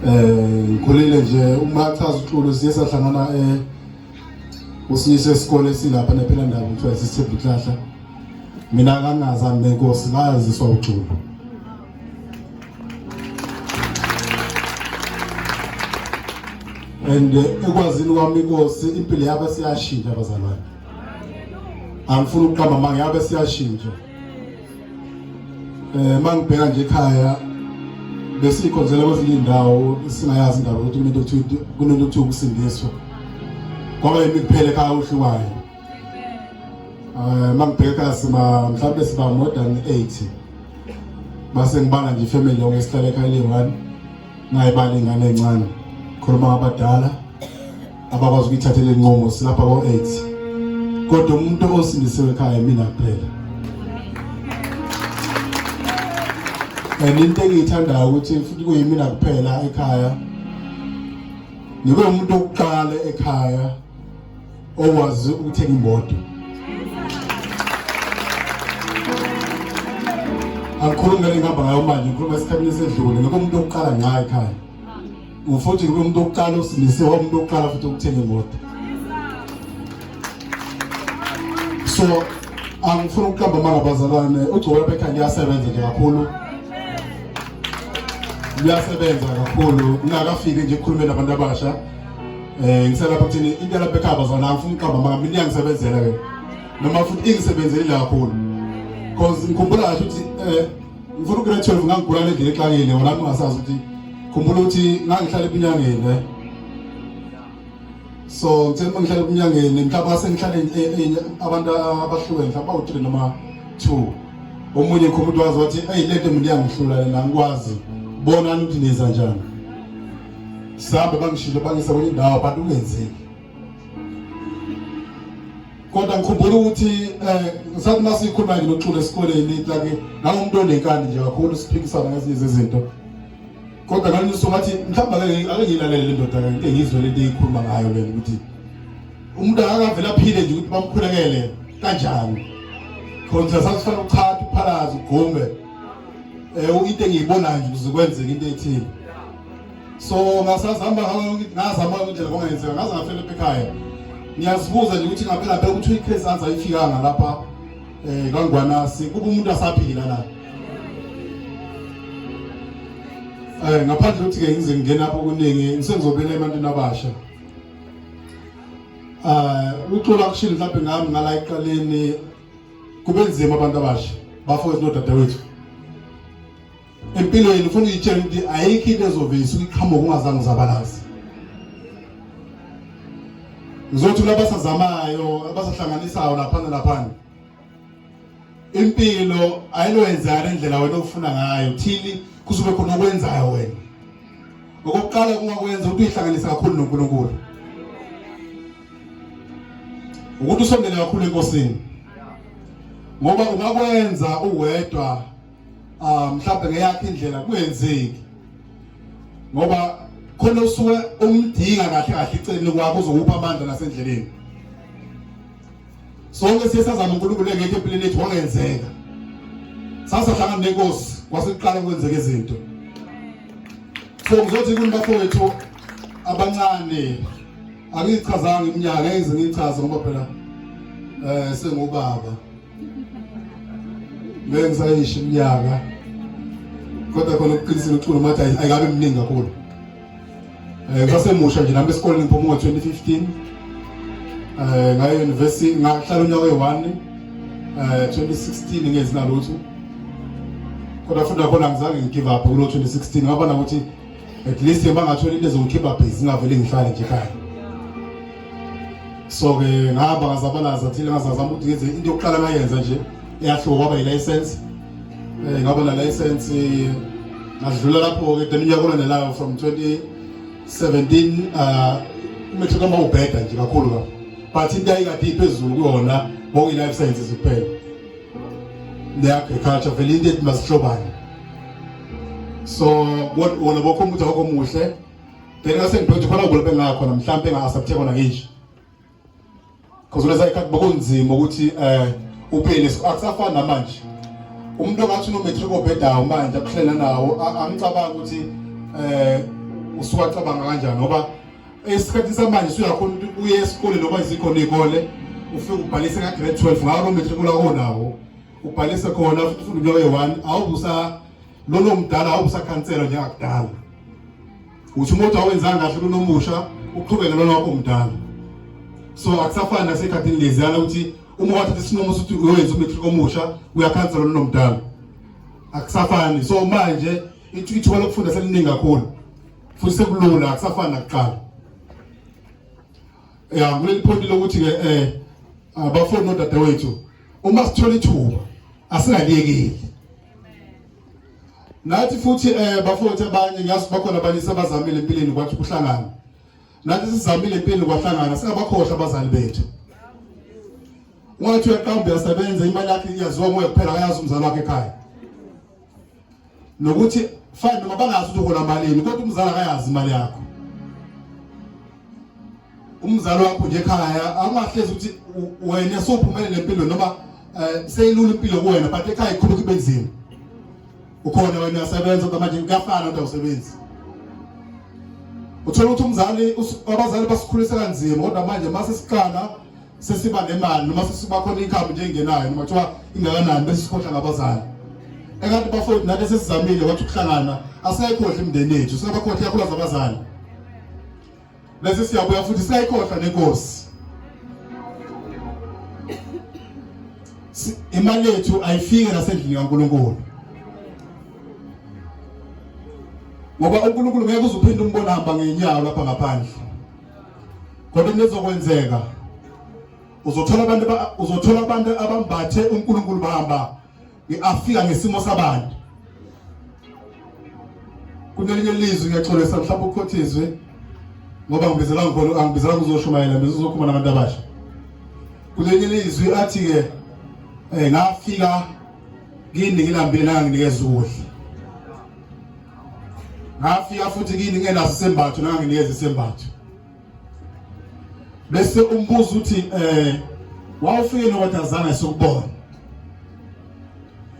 eh ngikhulile nje uma chaza uxulu siye sahlangana eh usiyise isikole silapha nephela ndawo kuthiwa isithembu ihlahla mina kanaza nenkosi bayaziswa uxulu and eh, ekwazini kwami inkosi impilo yabe siyashintsha abazalwane angifuni ukuqamba manga yabe siyashintsha Eh mangibheka nje ekhaya besikhonzela kwezinye indawo singayazi indaba ukuthi umuntu uthi kunento uthi ukusindiswa. Kwaba yimi kuphele ekhaya uhlukayo. Eh mangibheka sima mhlawumbe siba more than 80. Base ngibala nje family yonke sihlale ekhaya le one. Ngayibala ingane encane. Khuluma abadala abakwazi ukuyithathela inqumo silapha ko-AIDS. Kodwa umuntu osindisiwe ekhaya mina kuphela. And into engiyithandayo ukuthi futhi kuyimina kuphela ekhaya. Ngibe umuntu okuqala ekhaya okwazi ukuthenga imoto angikhulumi ngale ngihamba ngayo manje ngikhuluma esikhathini esedlule ngeke umuntu okuqala nqa ekhaya ufuthi ngeke umuntu okuqala usindisiwe umuntu okuqala futhi ukuthenga imoto so angifuni ukuqamba amanga bazalwane ugcobo lapha ekhaya liyasebenza nje kakhulu liyasebenza kakhulu ngingakafiki nje ekhulumeni abantu abasha Eh ngiselapha kuthini into yalapha ekhaba zona angifuni uqamba maka mina iyangisebenzela ke. Noma futhi ingisebenzele la kakhulu. Cause ngikhumbula kahle ukuthi eh ngifuna ukugula 12 ngangigula le ndlela exakile wona ngingasazi ukuthi khumbula ukuthi ngangihlala ebunyangeni eh. So ngithe uma ngihlala ebunyangeni mhlawumbe sengihlale eh, eh, abantu abahlukene mhlawumbe bawu-3 noma 2. Omunye khumbuthi wazi wathi hey lento mina iyangihlula lena ngikwazi. Bona ukuthi niza njani. sihambe bangishilo bangisa kwenye indawo abantu kungenzeki kodwa ngikhumbula ukuthi um ngisathi uma sikhuluma nje noxula esikoleni like nangomuntu onenkani nje kakhulu siphikisana ngezinye zezinto kodwa ngalunye usuku ngathi mhlawumbe ake ngiyilalele le ndoda ke into engizwe le nto eyikhuluma ngayo lena ukuthi umuntu akavele aphile nje ukuthi bamkhulekele kanjani khona sasifana ukuchatha uphalaza ugume eh into engiyibonayo nje kuzokwenzeka into ethile so ngasazama ngazama ukuthi ngoba ngenzeka ngaze ngafela ekhaya ngiyazibuza nje ukuthi ngaphela phela ukuthi iCase anza ifikanga lapha eh kangwanasi kuba umuntu asaphila la eh ngaphandle ukuthi ke ngize ngingena lapho kuningi ngisengizobela ebantwini abasha eh uxola kushilo mhlawumbe ngami ngala eqaleni kube nzima abantu abasha bafowethu nodadewethu empilweni ufuna uyitshela ukuthi ayikho into ezoveyisa uyiqhamuka ungazange uzabalazi ngizothi kulabasazamayo abasahlanganisayo laphana laphana impilo ayinoyenzana indlela wena ofuna ngayo thini kuzobe khona okwenzayo wena okokuqala kungakwenza ukuthi uyihlanganise kakhulu noNkulunkulu ukuthi usondele kakhulu enkosini ngoba ungakwenza uwedwa ah, mhlawumbe ngeyakhe indlela kungenzeki ngoba khona usuke umdinga kahle kahle iceleni kwakho uzokupha amandla nasendleleni sonke siye sazama uNkulunkulu engekho empilweni yethu wangenzeka sasahlangana nenkosi kwasiqala ukwenzeka izinto so ngizothi kunibafowethu abancane angichazanga iminyaka ngeke ngichaze ngoba phela eh sengubaba ngeke ngisayisho iminyaka kodwa khona ukuqinisile uculo mathi ayikabe mningi kakhulu eh ngasemusha nje nami esikoleni ngiphuma ngo-2015 eh ngaye university ngahlala unyaka oyi-one eh 2016 ngenzi nalutho kodwa futhi nakhona ngizange ngigive up kulo 2016 ngabona ukuthi at least bangathola into ezongikhipha busy ngavele ngihlale nje ekhaya so ke ngahamba ngazabalaza thile ngazazama ukuthi ngenze into yokuqala ngayenza nje eyahluka kwaba yi-license um ngaba na-license ngadlula lapho-ke then unyaka olandelayo from 2017 um umetho kama ubheda nje kakhulu kabi but into ayikade iphezulu kuyona kwakuyi-life sciences kuphela the agriculture vele into ethi masihlobane so wona bokho umuthi wakho muhle then ngase ngiphethe khona kulaphe ngakhona mhlawumbe engasaphethe khona ngisho because unesa ikhathi bokunzima ukuthi eh uphele akusafani namanje umuntu ongathi unomatric obhedayo manje akuhlela nawo angicabangi ukuthi eh usuwacabanga kanjani ngoba Esikhathi samanje usuyakhona ukuthi uye esikole noma izikhona izikole ufike ubhalise ka grade 12 ngawo lo matriculate onawo ubhalise khona futhi ufunda unyaka oyi-1 awubusa lolo mdala awubusakhanselwa njengakudala uthi umuntu awenzanga kahle kunomusha uqhubeke lona wakho mdala so akusafani nasekhathini leziyana ukuthi uma wathatha isinqumo sokuthi uyoyenza umatric omusha uyakhanselwa lona mdala akusafani so manje ithuba lokufunda seliningi kakhulu futhi sekulula akusafani nakuqala ya kuleli point lokuthi ke eh abafuni nodadewethu uma sithola ithuba asingaliyekeli nathi futhi eh bafowethu abanye ngiyazi bakhona abanye sebazamile empilweni kwathi kuhlangana nathi sizamile empilweni kwahlangana singabakhohlwa abazali bethu ungathi uyaqamba uyasebenza imali yakhe iyaziwa moya kuphela akayazi umzali wakhe ekhaya nokuthi fine noma bangazi ukuthi uhola malini kodwa umzali akayazi imali yakho umzali wakho nje ekhaya awungahlezi ukuthi wena sophumelele empilweni noma eh, seyilula impilo kuwena but ekhaya ikhulu kube nzima ukhona wena uyasebenza kodwa manje kuyafana kodwa usebenzi uthola ukuthi umzali abazali basikhulisa kanzima kodwa manje mase siqala sesiba nemali noma sesiba khona income nje engenayo noma kuthiwa ingakanani bese sikhohlwa ngabazali ekade bafowethu nathi sesizamile wathi ukuhlangana asayikhohlwa imndeni yethu singabakhohlwa ikakhulu zabazali bese siyabuya futhi siyayikhohlwa nenkosi imali yethu ayifike nasendlini kaNkuluNkulu ngoba uNkulunkulu ngeke uzuphinde umbona hamba ngenyawo lapha ngaphandle Kodwa into ezokwenzeka uzothola abantu uzothola abantu abambathe uNkulunkulu bahamba ngiafika ngesimo sabantu kunelinye lizwi ngiyaxolisa mhlawumbe ukhothizwe ngoba ngibizela ngikho angibizela kuzoshumayela mina uzokhuluma nabantu abasha kunelinye lizwi athi ke eh ngafika kini ngilambile nanginikeza ukudla ngafika futhi kini ngenaso isembatho nanganginikeza isembatho bese umbuzo uthi eh wawufike nokwatazana sokubona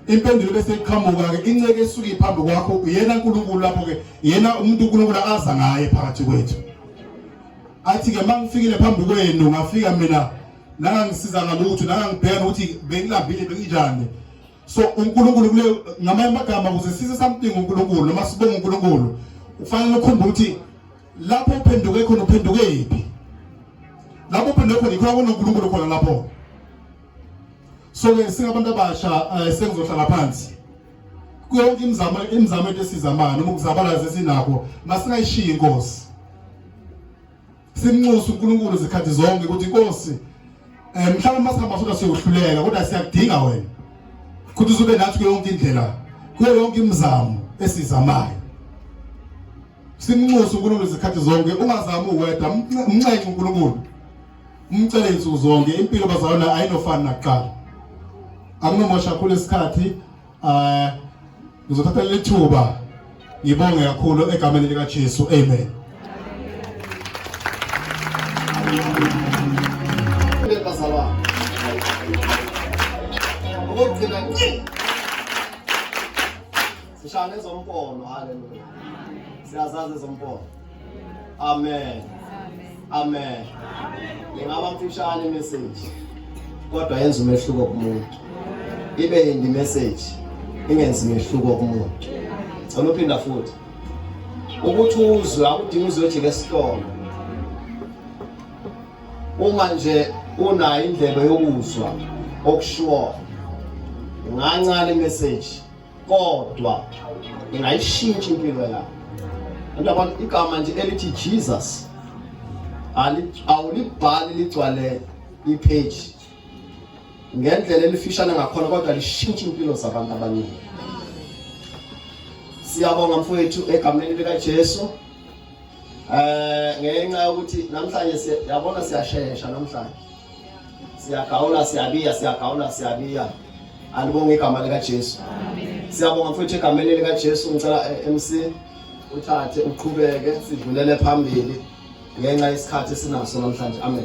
impendulo bese iqhamuka ke inceke esuke iphambi kwakho uyena uNkulunkulu lapho ke yena umuntu uNkulunkulu aza ngaye phakathi kwethu athi ke mangifikile phambi kwenu ngafika mina nangangisiza ngalutho nangangibheka ukuthi bengilambile benginjani so uNkulunkulu kule ngamanye amagama kuze size something uNkulunkulu noma sibonge uNkulunkulu ufanele ukhumbe ukuthi lapho uphenduke khona uphenduke yiphi lapho uphenduke khona ikhona kunoNkulunkulu khona lapho so ke singabantu abasha eh, sengizohlala phansi kuyonke imizamo imizamo ethu esizamana noma ukuzabalaza esinakho masingayishiyi inkosi Simnxusa uNkulunkulu zikhathi zonke ukuthi Nkosi eh mhlawumbe masihamba sona siyohluleka kodwa siyakudinga wena. Ukuthi uzube nathi kuyo yonke indlela, kuyo yonke imizamo esizamayo. Simnxusa uNkulunkulu zikhathi zonke ungazami uwedwa, umnxenxe uNkulunkulu. Umcele insuku zonke impilo bazalwana ayinofana nakuqala. Akunomosha khulu isikhathi eh ngizothatha leli thuba ngibonge kakhulu egameni likaJesu amen Ukugcina nci sishane ezompono haleluya siyazazi ezompono Amen. Amen. Ingaba mfishane message kodwa yenza umehluko kumuntu. Ibe yindi message ingenzi umehluko kumuntu. Ngicela uphinda futhi. Ukuthi uzwe akudingi uzojika esitolo. Uma nje unayo indlebe yokuzwa okushiwo ngancane message kodwa ingayishintsha impilo yakho ndabona igama nje elithi Jesus awulibhali ligcwale ipage ngendlela elifishane ngakhona kodwa lishintsha impilo zabantu abaningi siyabonga mfowethu egameni likaJesu eh ngenxa yokuthi namhlanje siyabona siyashesha namhlanje Siyagawula siyabiya siyagawula siyabiya. Alibonge igama lika Jesu. Amen. Siyabonga mfowethu egameni lika Jesu ngicela eh, MC uthathe uqhubeke sidlulele phambili ngenxa yesikhathi esinaso namhlanje. Amen.